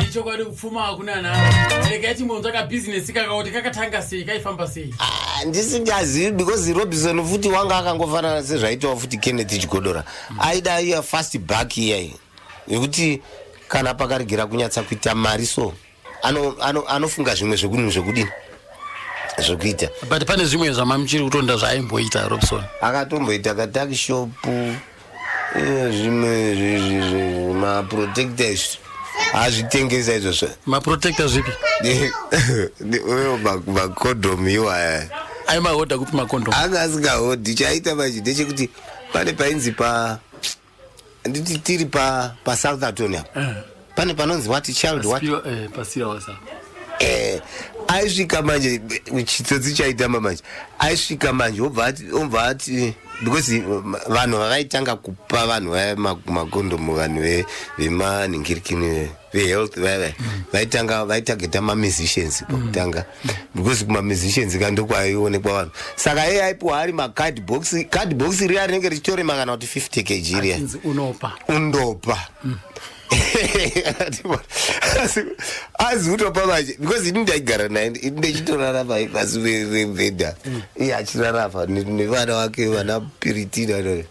ichokwadi kupfuma hakuna navo regai timbonzwa kabhizinesi kaka kuti kakatanga sei kaifamba sei handisingazivi because robinson futi wanga akangofanana sezvaitawa futi kenneth chigodora aida iya fast back iyayi yekuti kana pakaregera kunyatsa kuita mari so anofunga ano, ano zvimwe zvekudini zvekudini zvekuita but pane zvimwe zvamamuchiri kutonda zvaimboita robson akatomboita katakishopu zvimwe maprotector izvi hazvitengesa izvozvo maprotector zvipi macondomu iwaya aimahodha kupi macondomu anga asingahodhi chaita manje ndechekuti pane painzi pa nditi tiri pa pasouthaton apa eh. pane panonzi what child what eh, pasiya wasa eh aisvika manje chitsotsi chaitamba manje aisvika manje obva ati obva ati because vanhu vakaitanga kupa vanhu vaya makondomu vanhu ve vemaningirikini vehealth vaya mm. vaitanga vaitageta mamusicians mm. pakutanga because kumamusicians ka ndokwaaionekwa vanhu saka iye aipiwa ari macard box card box riya rinenge richitoremakana kuti 50 kg riya undopa azi kutopa manje because ini ndaigara naye ndichitorarama pasi vevhedha iye achirarama nevana wake vana piritina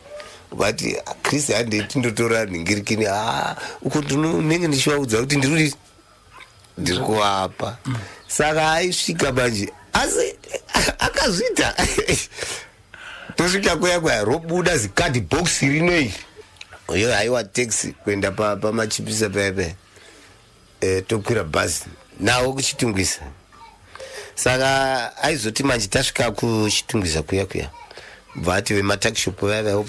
but chris handei tindotora nhingirikini a ah, uko ndinenge ndichivaudza kuti ndiri ndiri kuvapa saka aisvika manje asi akazviita tosvika kuya kuya robuda zikadhi box rino iri uyo haiwa taxi kuenda pamachipisa pa paya paya e, tokwira bhazi nawo kuchitungwisa saka aizoti manje tasvika kuchitungwiza kuya kuya vati vematakishop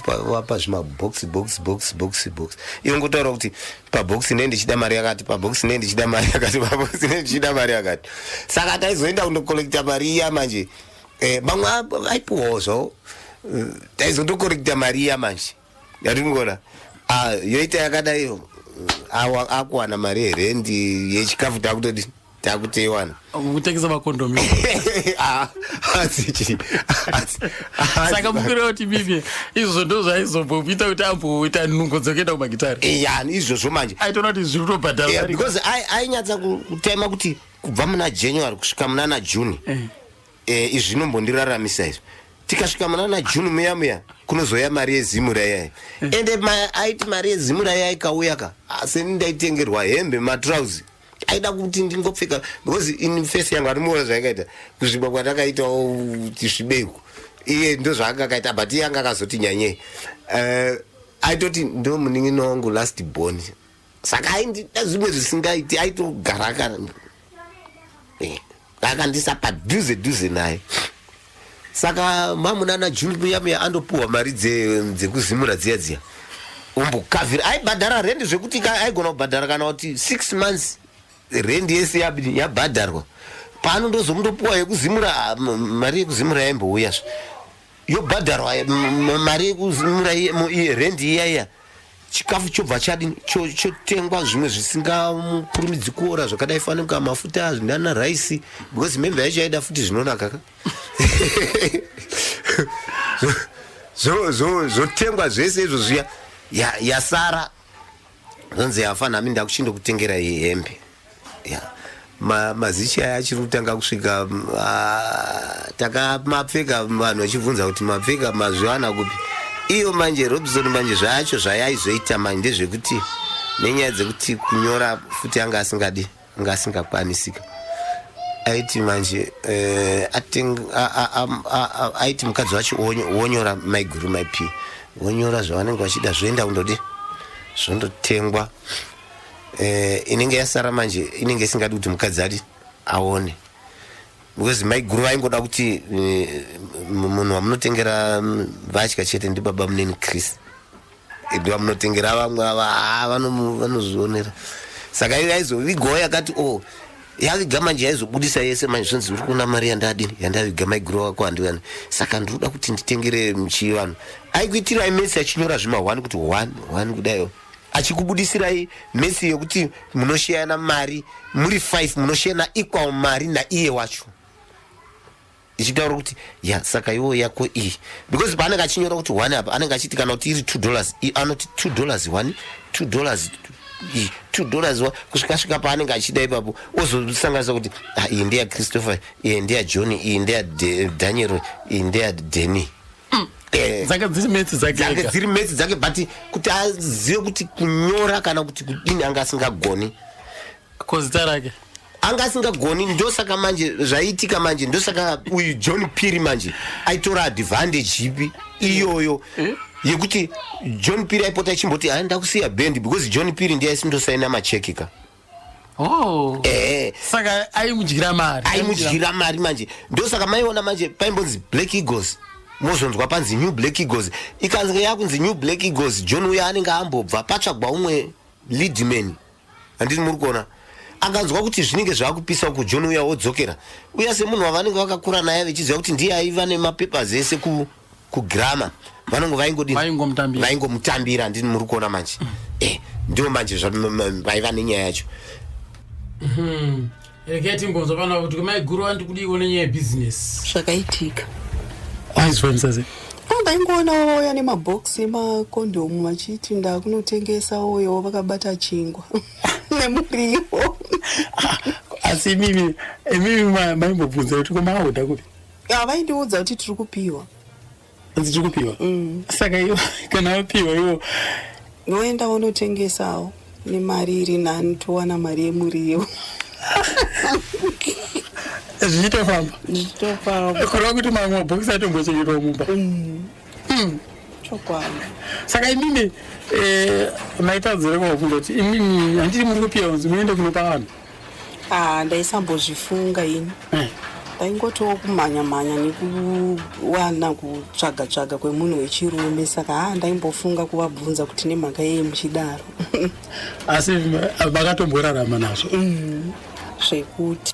vavapa zvimabox box box box box iyo ngotaura kuti pabox ne ndichida mari yakati pabox ne ndichida mari yakati pabox ne ndichida mari yakati saka taizoenda kundokollekta mari iya manje eh, vamwe vaipiwawo zvawo eh, taizotokollekta mari iya manje yaringona ah, yoita yakadaiyo ah, akuwana mari yerendi yechikafu takutodi takuteiwana kutengesa makondomi ah, saka mukuru wekuti mimi izvozvo ndo zvaizombomuita kuti amboita nungo dzokuenda kumagitari eh, ya izvozvo manje aitoona kuti zviri kutobhadhara eh, because ainyatsa kutema kuti kubva muna january kusvika munana june eh. e, izvi zvinombondiraramisa izvi tikasvika munana june muya muya kunozoya mari yezimu rayai mm. ende aiti mari yezimu rayai kauya ka asi ndaitengerwa hembe matrouse aida kuti ndingopfeka because in face yangu anomuona zvaakaita kuzvimba kwatakaitawo tisvibeiko iye ndo zvaanga akaita but iye anga akazoti nyanyei uh, aitoti ndo munin'ina wangu last born saka aindida zvimwe zvisingaiti aitogara akara eh, akandisa padhuze dhuze naye saka mamunana juni muyamuya andopuhwa mari dzekuzimura dziya dziya umbukavhira aibhadhara rendi zvekuti aigona kubhadhara kana kuti six months rendi yese yabhadharwa pano ndozomundopuwa yekuzimura ah, mari yekuzimura yaimbouya zve yobhadharwa mari yekuzimura rendi iyaiya chikafu chobva chadini chotengwa cho zvimwe zvisingakurumidzi kuora zvakadai fanika mafuta zvinana raisi because membe yacho yaida futi zvinonaka ka zvotengwa zvese izvo zviya yasara zonzi yafa nami ndakuchindokutengera iyi hembe Yeah. Ma, mazichi aya achiri kutanga kusvika mm, ah, takamapfeka vanhu vachibvunza kuti mapfeka mazviwana kupi iyo manje robson manje zvacho zvayaizoita manje ndezvekuti nenyaya dzekuti kunyora futi anga asingadi anga asingakwanisika aiti manje eh, ating, a, a, a, a, a, aiti mukadzi wacho wonyo- wonyora maiguru maipi wonyora zvavanenge vachida zvoenda kundodi zvondotengwa eh, inenge yasara manje inenge isingadi kuti mukadzi ati aone because maiguru vaingoda kuti eh, munhu wamunotengera mm, vatya chete ndibaba muneni chris ndi vamunotengera vamwe ava ah, vanozvionera saka aizovigawo yakati o oh, yaviga manje yaizobudisa yese manje zvonzi uri kuona mari yandadini yandaviga maiguru wako handivani saka ndiri kuda kuti nditengere chivanhu aikuitira imesi achinyora zvima one kuti one one kudaio achikubudisirai mesi yekuti munosheyana mari muri five munosheyana equal mari naiye wacho ichitaura kuti ya saka iwo yako iyi because paanenge achinyora kuti one apa anenge achiti kana kuti iri two dollars anoti two dollars one two dollars two dollars one kusvika svika paanenge achida ipapo ozosanganisa kuti ah, iyi ndeya christopher iyi ndeya john iyi ndeya daniel iyi ndeya deni mm. eh. dzanga dziri metsi dzakedzange dziri metsi dzake but kuti azive kuti kunyora kana kuti kudini anga asingagoni kozita rake anga asingagoni ndosaka manje zvaiitika manje ndosaka uyu john piri manje aitora advantage ipi iyoyo eh? yekuti john piri aipota achimboti haa ndakusiya bendi because john piri ndiye aisindosaina machekika Oh. Eh. Saka aimudyira mari. Aimudyira mari manje. Ndosaka maiona manje paimbonzi Black Eagles. mozonzwa panzi new black eagles ikanzika yakunzi new black eagles john uya anenge ambobva patsvagwa umwe leadman handiti muri kuona akanzwa kuti zvinenge zvaakupisa uku john uya wodzokera uya semunhu wavanenge vakakura naye vechiziva kuti ndiye aiva nemapapers ese ku kugrama vanongo vaingodii vaingomutambira vaingomutambira ndini muri kuona manje mm. eh, ndiwo manje vaiva nenyaya yacho mm-hmm. rekei timbonzwa pano kuti maiguru vandi kudiiwo nenyaya yebusiness zvakaitika aizvanisaze ndaingoona vauya nemabox emakondomu vachiti ndakunotengesa uyo vakabata chingwa nemuriwo ah, asi imimi imimi maimbobvunza kuti komaaoda kupi havaindiudza kuti tiri kupiwa hanzi tiri kupiwa mm. saka iwo kana vapiwa iwo voenda vonotengesawo nemari iri nani towana mari yemuriwo zvichitofamba zvichitofamba kureva kuti mamwe mabhokisi atombochengetwa mumba mm. mm. chokwadi saka imimi eh, maitadzirekawo kungoti imimi handiti muri kupiwa kunzi muende kunopa vanhu Ah, ndaisambozvifunga ini eh. ndaingotiwo kumhanya mhanya nekuwana kutsvaga tsvaga kwemunhu wechirume saka ha ah, ndaimbofunga kuvabvunza kuti nemhaka yei muchidaro asi vakatomborarama nazvo mm, zvekuti